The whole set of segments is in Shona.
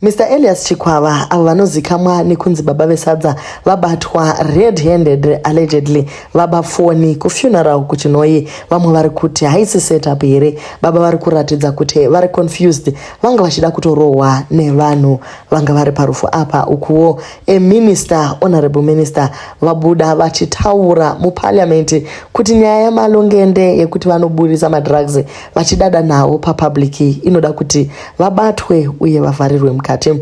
Mr Elias Chikwava avo vanozikamwa nekunzi baba vesadza vabatwa red handed allegedly vaba foni kufuneral kuchinhoyi vamwe vari kuti haisi setup here baba vari kuratidza kuti vari confused vanga vachida kutorohwa nevanhu vanga vari parufu apa ukuwo a minister honorable minister vabuda vachitaura muparliament kuti nyaya yamalongende yekuti vanoburitsa madrugs vachidada navo papublic inoda kuti vabatwe uye vavharirwe mukati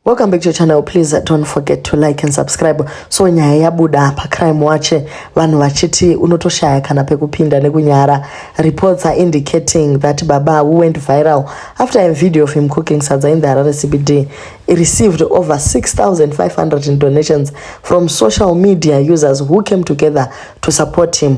welcome back to your channel please don't forget to like and subscribe so nyaya yabuda pacrime watch vanhu vachiti unotoshaya kana pekupinda nekunyara reports are indicating that baba who went viral after a video of him cooking sadza in the harare cbd received over 6500 in donations from social media users who came together to support him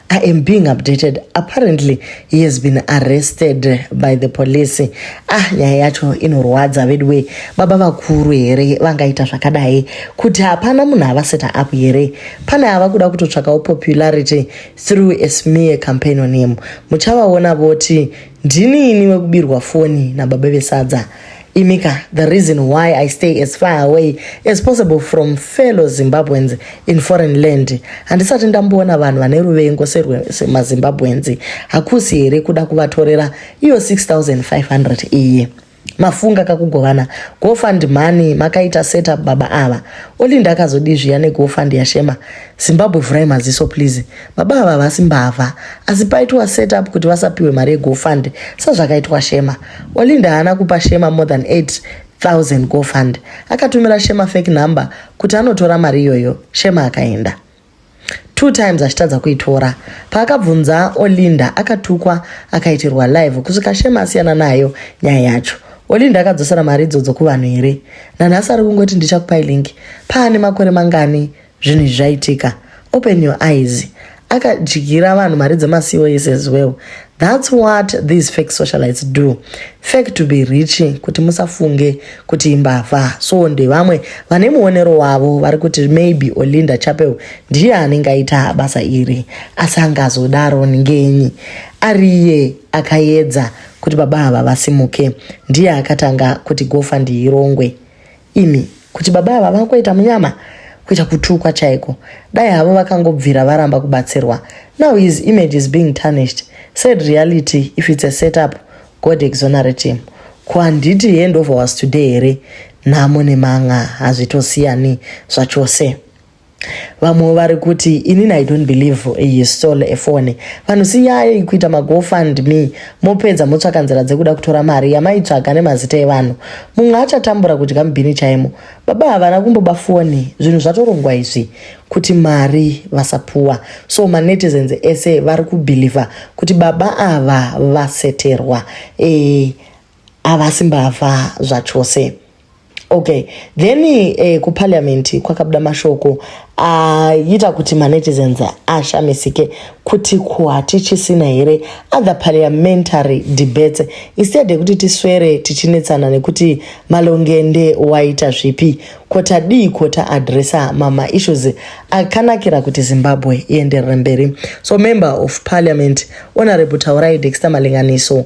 I am being updated. Apparently, he has been arrested by the police. Ah, nyaya yacho inorwadza veduwe. Baba vakuru here vangaita zvakadai kuti hapana munhu avaseta apo here? Pane ava kuda kutotsvakawo popularity through a smear campaign on him. Muchavaona voti Ndini ini wekubirwa foni nababa vesadza imika the reason why i stay as far away as possible from fellow zimbabweans in foreign land handisati ndamboona vanhu vane ruvengo semazimbabweans hakusi here kuda kuvatorera iyo 6500 iye mafunga kakugovana gofund mhani makaita setup baba ava olinda akazodii zviya negofund yashema zimbabwe vhurai maziso please baba ava havasi mbavha asi paitwa setup kuti vasapiwe mari yegofund sezvakaitwa shema olinda haana kupa shema more than 8000 gofund akatumira shema fake number kuti anotora mari iyoyo shema akaenda two times achitadza kuitora paakabvunza olinda akatukwa akaitirwa live kusvika shema asiyana nayo nyaya yacho olinda akadzosera mari idzodzo kuvanhu here nanhasi ari kungoti ndichakupai link paane makore mangani zvinhu izvi zvaitika open your eyes akadyira vanhu mari dzemasiwo yese as well That's what these fake socialites do. Fake to be rich kuti musafunge kuti imbavha. So ndevamwe vane muonero wavo vari kuti maybe Olinda Chapel ndiye anenge aita basa iri asi angazodaro ngenyi ariye akayedza kuti baba ava vasimuke ndiye akatanga kuti gofandi irongwe imi kuti baba ava vakuita munyama kuita kutukwa chaiko dai havo vakangobvira varamba kubatsirwa now his image is being tarnished said reality if it's a setup god exonerate him ko handiti he ndova was today here nhamo nemanga hazvitosiyani zvachose vamwe vari kuti inini i don't believe he stole a phone vanhu siyai kuita magofund me mopedza motsvaka nzira dzekuda kutora mari yamaitsvaga nemazita evanhu mumwe achatambura kudya mubhini chaimo baba havana kumboba foni zvinhu zvatorongwa izvi kuti mari vasapuwa so manetizens ese vari kubhilivha kuti baba ava vaseterwa e, havasi mbavha zvachose okay then eh, kuparliament kwakabuda mashoko aita ah, uh, kuti manetizens ashamisike kuti ko hatichisina here other parliamentary debates instead yekuti tiswere tichinetsana nekuti malongende waita zvipi ko tadii ko taadressa mama issues akanakira kuti zimbabwe ienderere mberi so member of parliament honorable taurai dexter malinganiso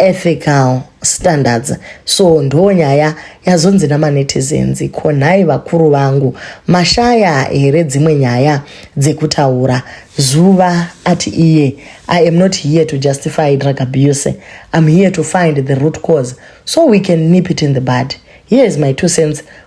ethical standards so ndo nyaya yazonzi namanetizens ko nhai vakuru vangu mashaya here dzimwe nyaya dzekutaura zuva ati iye i am not here to justify drug abuse im here to find the root cause so we can nip it in the bud here is my two cents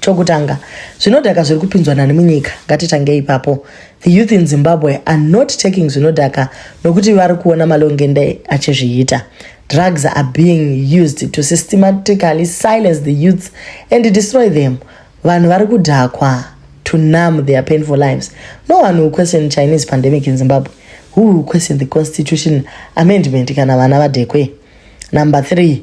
chokutanga zvinodhaka zviri kupinzwa nani munyika ngatitange ipapo the youth in zimbabwe are not taking zvinodhaka nokuti vari kuona malongende achizviita drugs are being used to systematically silence the youths and destroy them vanhu vari kudhakwa to numb their painful lives no one will question chinese pandemic in zimbabwe who will question the constitution amendment kana vana vadhekwe number three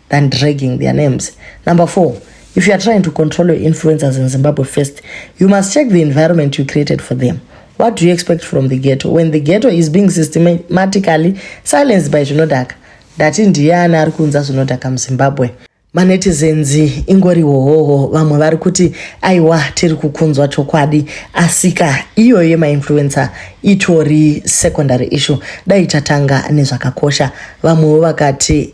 than dragging their names. Number four, if you are trying to control your influencers in Zimbabwe first, you must check the environment you created for them. What do you expect from the ghetto when the ghetto is being systematically silenced by zvinodhaka? Ndati ndiye ani ari kunza zvinodhaka muZimbabwe? manetizens ingori hohoho vamwe vari kuti aiwa tiri kukunzwa chokwadi asika iyoyo yemainfluencer itori secondary issue dai tatanga nezvakakosha vamwewo vakati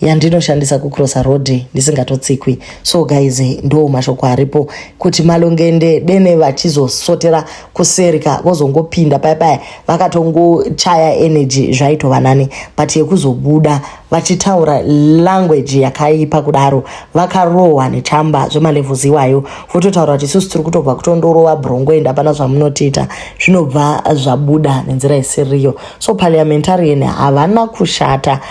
yandinoshandisa kucrossa road ndisingatotsikwi so guys ndo mashoko aripo kuti malongende dene vachizosotera kuserika vozongopinda paya paya vakatongochaya energy zvaitova nani but yekuzobuda vachitaura language yakaipa kudaro vakarohwa nechamba zvemalevels iwayo vototaura kuti isusu tiri kutobva kutondorova brongo enda pana zvamunotiita zvinobva zvabuda nenzira isiriyo so parliamentarian havana kushata